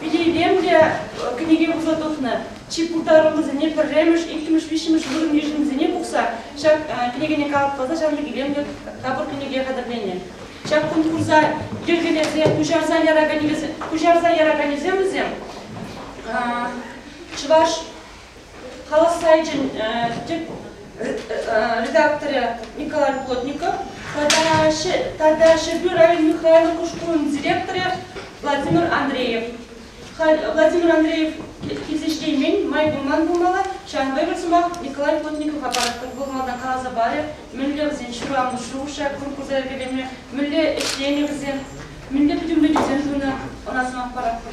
Вилейпен те кӗнеке пухса тухнӑ. Чи пултаруллисене пӗрремӗш, иккӗмӗш, виҫҫӗмӗш вырӑн йышӑнисене пухса ҫак кӗнекене калӑпласа ҫавӑн илемлӗ тапӑр кӗнеке хатӗрленӗ. Ҫак конкурса йӗркелесе куҫарса яраканӗсем, куҫарса яраканӗсем вӗсем чӑваш Халӑх сайчӗн тӗп редакторӗ Николай Плотников тата Ҫӗрпӳ район Михайловка шкулӗн директорӗ Владимир Андреев. Владимир Андреев килсе ҫитеймен, май пулман пулмалла, ҫавӑнпа эпир сӑмах Николай Плотникова паратпӑр. Вӑл малтан каласа парӗ, мӗнле вӗсен ҫыру амӑшши хушрӗ конкурса йӗркелеме, мӗнле ӗҫленӗ вӗсем, мӗнле пӗтӗмлетӳсем тунӑ, ӑна сӑмах паратпӑр.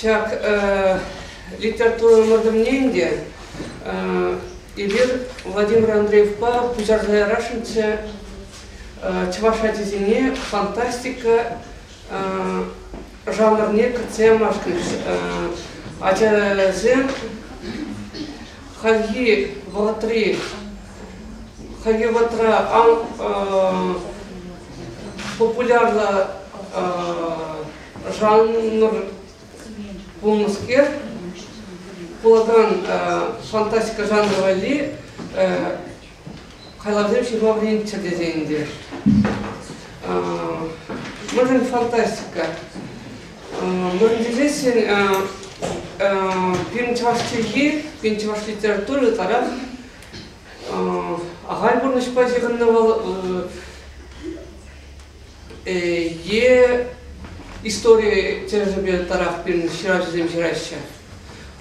Ҫак литература ӑмӑртӑвне ӗнтӗ эпир Владимир Андреевпа пуҫарса ярасшӑнччӗ. Чӑваш ачисене фантастика жанрне кӗртсе ямашкӑнч. Ачасем хальхи вӑхӑтри хальхи вӑхӑтра популярлӑ жанр пулнӑскер, пулакан фантастика жанры валли хайлавсем ҫырма вӗренччӗр тесе ӗнтӗ. Мӑшӑн фантастика. Мӑшӑн тесессӗн пирӗн чӑваш чӗлхи, пирӗн чӑваш литературы таран Ахаль пурнӑҫпа ҫыхӑннӑ вӑл е истори тӗлӗшӗпе ытларах пирӗн ҫыравҫӑсем ҫыраҫҫӗ.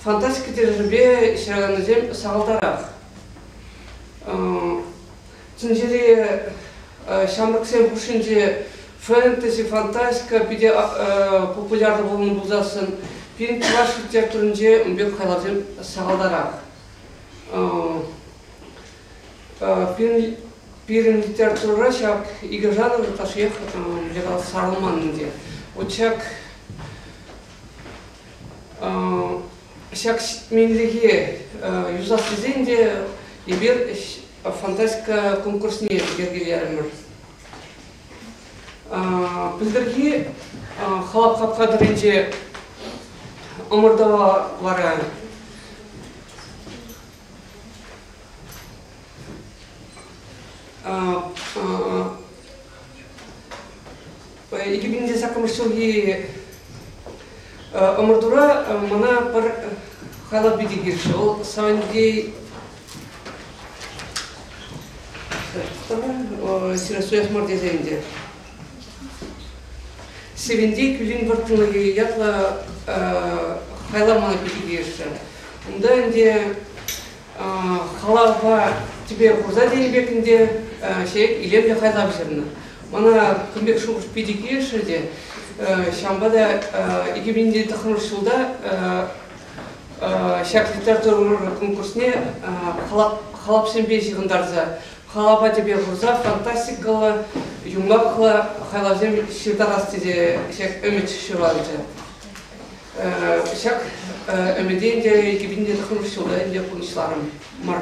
Фантастика тӗлӗшӗпе ҫыраканнисем сахалтарах. Тӗнчери ҫамрӑксен хушшинче фэнтези, фантастика питӗ популярлӑ пулнӑ пулсассӑн пирӗн чӑваш литературинче ун пек хайлавсем сахалтарах. Пирӗн литература ҫак икӗ жанр ытлашшиех ҫакӑ сарӑлман ӗнтӗ. Вот ҫак ҫак ҫитменлӗхе юсас тесен те эпир фантастика конкурсне йӗркелерӗмӗр. Пӗлтӗрхи халап хапхатӑрӗнче ӑмӑртӑва вара Екі миңде саккӑмыш ҫулхи ӑмӑртура мана пӗр хайлав пирки килчӗ. Ол Сандей Сиростоях мар тесе ӗнтӗ. Севенти кӳлин вӑрттӑнлӑхӗ ятлӑ хайламана пирки тиешшӗ. Унта ӗнтӗ халапа тӗпе хурса тенӗ пек ӗнтӗ ҫек илемлӗ хайлав ҫырнӑ. Мана кун пек шухӑш питӗ килӗшрӗ те. Ҫавӑнпа та 2000 ҫулта ҫак литература конкурсне халапсемпе ҫыхӑнтарса халапа тӗпе хурса фантастикӑллӑ, юмахлӑ хайлавсем ҫыртарас тесе ҫак ӗмӗт ҫуралчӗ. Ҫак ӗмӗте ӗнтӗ 2015 ҫулта ӗнтӗ пурнӑҫларӑм мар.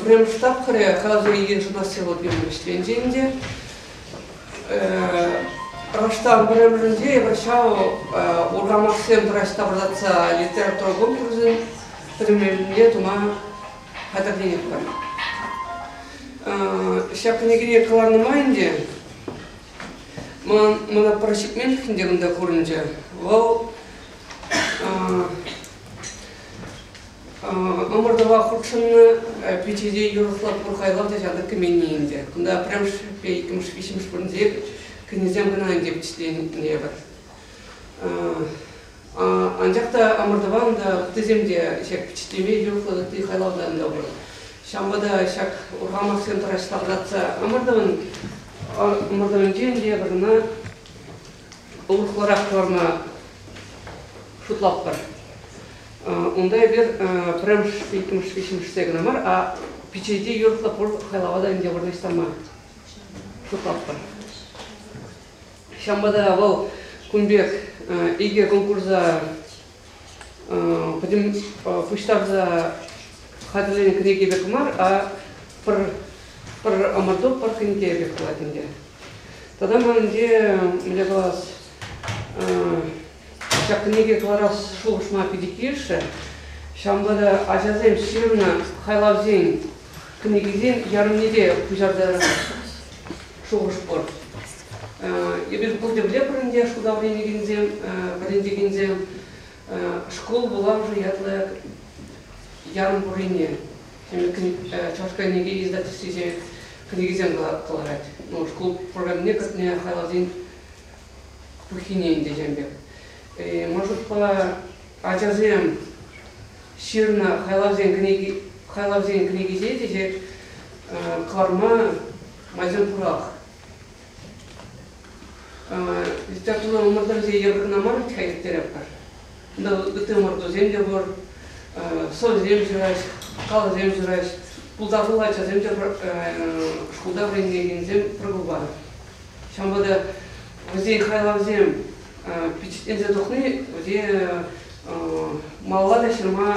Пӗрремӗш тапхӑрӗ калаҫу икин шӑнасси вӑл пирӗн вӗҫленчӗ ӗнтӗ. Раштав пӗрремӗшӗнче эпир ҫав урхамахсем тӑраҫса пӑртатса литература конкурсӗн пӗрремӗшне тума хатӗрленетпӗр. Ҫак кӗнекене кӑларнӑ май ӗнтӗ ман мана пӗр ҫитменлӗхӗн те кунта курӑнчӗ. Вӑл Ӑмӑртӑва хутшӑннӑ пичӗ те юрӑхлатпӑр хайлав та ҫантӑк кӗменни ӗнтӗ. Кунта пӗрремӗш, иккӗмӗш, виҫҫӗмӗш вырӑнсене кӗнисем кӑна ӗнтӗ вӗҫленетпӗр. Анчах та ӑмӑртӑван та ыттисем те ҫак впечатлеме юрӑхлӑ ытти хайлавтан та пур. Ҫавӑнпа та ҫак урхамахсем тӑраҫ ларса ӑмӑртӑвӑн ӑмӑртӑвӗнчен те вырӑна Улӑхларах кӑларма шутлатпӑр. Унта эпир пӗрремӗш, иккӗмӗш, виҫҫӗмӗшсе кӑна мар, а пичете юрӑхлӑ пур хайлава та ӗнтӗ вырнаҫтарма шутлатпӑр. Ҫавӑнпа та вӑл кун пек икӗ конкурса пуҫтарса хатӗрленӗ кӗнеке пек мар, а пӗр, пӗр ӑмӑрту, пӗр кӗнеке пек пулать ӗнтӗ. Тата ман ӗнтӗ, мӗнле калас, ҫак кӗнеке кӑларас шухӑшма питӗ килӗшрӗ. Ҫавӑнпа та ачасем ҫырнӑ хайлавсен кӗнекисен ярӑмне те пуҫарса шухӑш пур. Эпир пур темле пуринте шута вӗренекенсем, вӗрентекенсем шкул вулавӑшӗ ятлӑ ярӑм пуррине, Чӑваш кӗнеке издательствисен кӗнекисем кӑларать. Ну, шкул программине кӗртме хайлавсен пуххине ӗнтӗ пек. Ман шутпа, ачасем ҫырнӑ хайлавсен кӗнеки хайлавсен кӗнекисен те кӑларма майсем пурах. Литература ӑмӑртӑвӗсене япӑхна мар вӗт-ха ирттеретпӗр. Кунта ытти ӑмӑртусем те пур, сӑвӑсем ҫыраҫ, калӑсем ҫыраҫ. Пултаруллӑ ачасем те шкулта вӗренекенсем пӗр клуба. Ҫавӑнпа та вӗсен хайлавсем пичетленсе тухни вӗсен малалла та ҫырма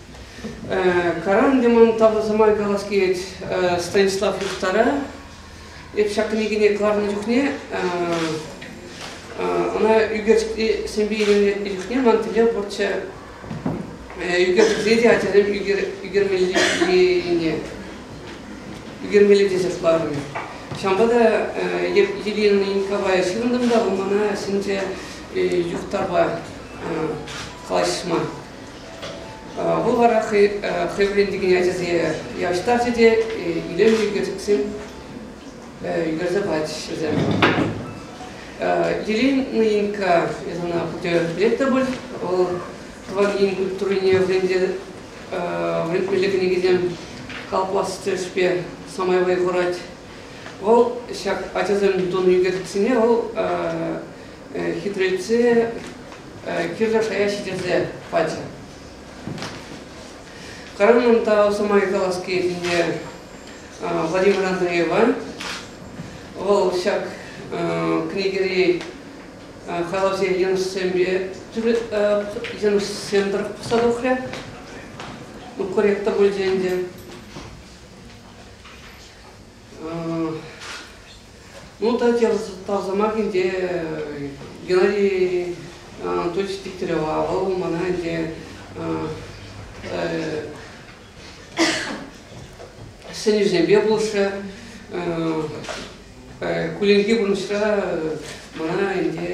Каранди ман тавлӑ сӑмай калас килет Станислав Юхтара. Эп ҫак кӗнекене кӑларнӑ чухне ӑна ӳкерчӗкри сӗмпе илемлетнӗ чухне ман тӗле пурччӗ ӳкерчӗкре те ачасем ӳкермеллине ӳкермелле тесе хӑварнӑ. Ҫавӑнпа та эп Ирина Николаевна ҫырӑнтӑм та мана сенче Юхтарпа калаҫма. Вӑл вара хӑй вӗрентекен ачасене явӑҫтарчӗ те илемлӗ ӳкерчӗксем ӳкерсе пачӗҫ вӗсем. Елена Инка, эс ӑна пурте пӗлет пуль, вӑл тӑван ен культурине вӗрентмелли кӗнекесем калӑплас тӗлӗшпе самай вӑй хурать. Вӑл ҫак ачасем тунӑ ӳкерчӗксене вӑл хитрелтсе кирлӗ шая ҫитерсе пачӗ. Карамон та ӑса май калас килне Владимир Андреева. Вӑл ҫак кӗнекери халавсем йӑнӑшсемпе йӑнӑшсем тӑрӑх пӑхса тухрӗ. Ну, корректно пулчӗ ӗнтӗ. Ну, та тав сӑмах ӗнтӗ Геннадий Анатольевич Дегтярева. Вӑл мана ӗнтӗ сӗнӳсемпе пулӑшрӗ. Кулленхи пурнӑҫра мана ӗнтӗ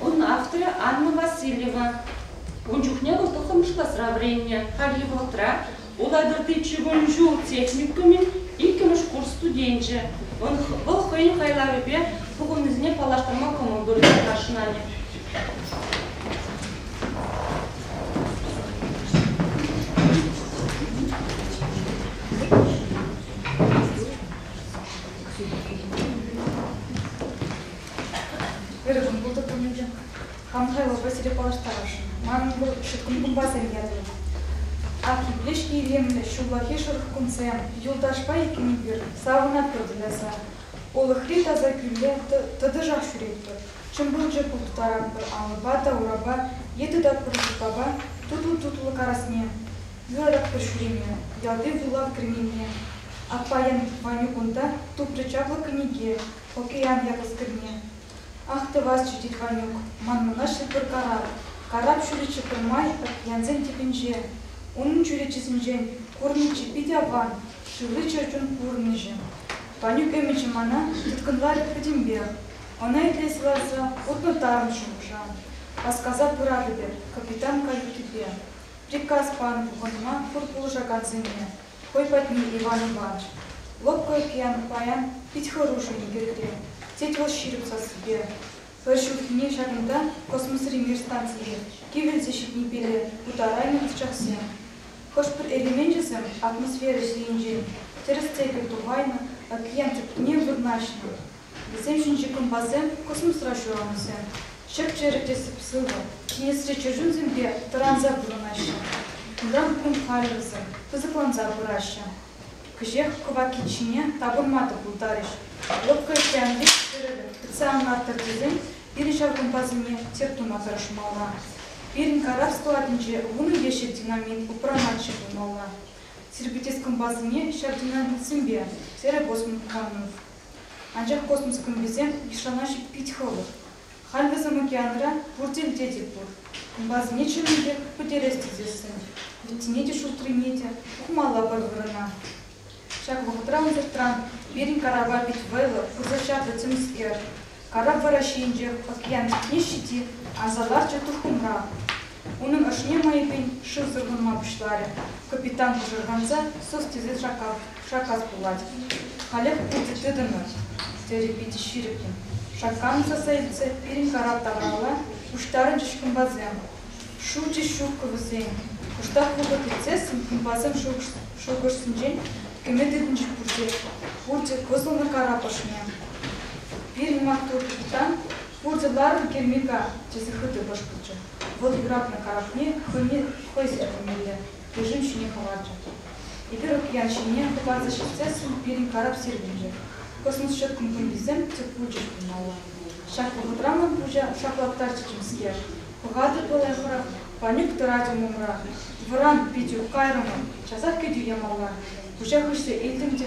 Ун авторӗ Анна Васильева. Ун чухне вӑл тӑххӑрмӗш класра вӗреннӗ. Хальхи вӑхӑтра Улатӑрти чи вун ҫул техникумӗн иккӗмӗш курс студенчӗ. Вӑл хӑйӗн хайлавӗпе пухӑннисене паллаштарма кӑмӑл тунине хашӑнанӑ. Верӑпӑн пултарулӑхӗ хам хайлавпа сире паллаштарасшӑн. Манӑн пур ҫуткунпа ятӑм. Ак еплешне илемлӗ ҫуллахи шӑрӑх кунсем, юлташпа иккӗн эпир, савӑнатпӑр туйӑнса. Улӑхри таса кӳлле тӑтӑшах ҫӳретпӗр, чӑмпӑрчӑ турттаратпӑр алӑпа та урапа е тытатпӑр шуркапа тутлӑ-тутлӑ карасне. Юрататпӑр ҫӳреме, ялти вулав кӗрмене. Аппайӑн Ванюкунта тупрӗ чаплӑ кӗнеке. Океан япӑх кӗрне. Ах, тӑвасчӗ тет Ванюк, ман мунаҫҫӗ пӗр карап. Карап ҫӳреччӗ пӗрмай пӗркьянсен тӗпӗнче. Унӑн чӳречисенчен курнӑччӗ питӗ аван, шыври чӗрчун курнӑҫӗ. Ванюк ӗмӗчӗ мана тыткӑнларӗ пӗтӗмпех. Ӑна итлесе ларса утнӑ тарӑн шухӑша васкаса пыратӑп эп капитан каютипе. Приказ панӑ пухӑнма пур пулӑшакансене хӑй патне Иван Иванович, лӑпкӑ океан паян пит хӑрушӑ-и пирте, тет вӑл ҫирӗп сассипе. Пӗр ҫурхине ҫакӑнта космосри мир станцие кивелсе ҫитнипеле путарайнӑ ӑсчахсем. Хӑш-пӗр элеменчӗсем атмосфера ҫийӗнчен тӗрӗс те пӗр тупайнӑ океан тӗпне вырнаҫнӑ, Вӗсем ҫинчи кӑмпасем, космосра ҫуралнисем, чӗп-чӗрӗ те сӑп-сывӑ, ҫӗнесре чӗрчунсемпе тӑранса пурӑнаҫҫӗ. Унтан кун хальлӗхсӗр пысӑкланса пыраҫҫӗ. Кӗҫех кӑваккиччине тапӑнма та пултарӗҫ. Лӑпкӑ океан вут-тӗрӗвӗ тытса анмастӑр тесен пирӗн ҫав кӑмпасене тер тума тӑрӑшмалла. Пирӗн карап складӗнче вунӑ ещӗк динамит упранатчӗ пулмалла. Сирпӗтес кӑмпасене ҫав динамитсемпе, терӗ Босман Камнов. Анчах космос клубӗсем Мишанаҫи пит хӑвӑр. Халь вӗсем океанра пурте вӗтетӗп пур. Унпасене чӑннӑ пек пӗтерес тесессӗн вӗттине те шултрине те хумалла пӗр вырӑна. Ҫак вӑхӑтра ӑнсӑртран пирӗн карапа пит вӑйлӑ пырса чарнӑ тӗмскер Карапура ҫийӗнчех Пӑкьянов Ниҫҫити аса ларчӗ туххӑмра. Унӑн ӑшне мӑйӑхӗн шыв сӑрхӑнма пуҫларӗ. Капитан пӑшӑрханса, сӑс тесе шаккас, шаккас пулать. Халех пурте тытӑнӑр, терӗ питӗ ҫирӗппӗн шакканса сӗлтсе пирӗн карап тавралла пуҫтарӑнчӗҫ кӑмпасем. Шучӗ ҫуккӑ вӗсен. Кӑштах вӑхӑт иртсессӗн хунпасем шухӑшсенчен кӗме тытӑнчӗ пурте. Пурте кӑсӑлнӑ карап ӑшне. Пирӗн маттур капитан пурте ларнӑ кермика, тесе хытӑ кӑшкӑрчӗ. Вӑл юратнӑ карапне хӑйне хӑй сӗртӗнмелле режим ҫине хӑварчӗ. Эпир океан ҫине хӑпарса ҫитсессӗн пирӗн карап сирӗлчӗ. Космос ҫӑткӑн хуньӑсем тӗп пулчӗҫ пулмалла. Ҫак вӑхӑтра ман пуҫа шаклаттарчӗ темскер. Пӑхатӑп ӑна хӑрах, Панюк тӑратӑм умра. Вӑран, Петюк, кайрӑмӑр. Часах кӗтӳ ямалла. Куҫа хыҫрӗ, илтӗм те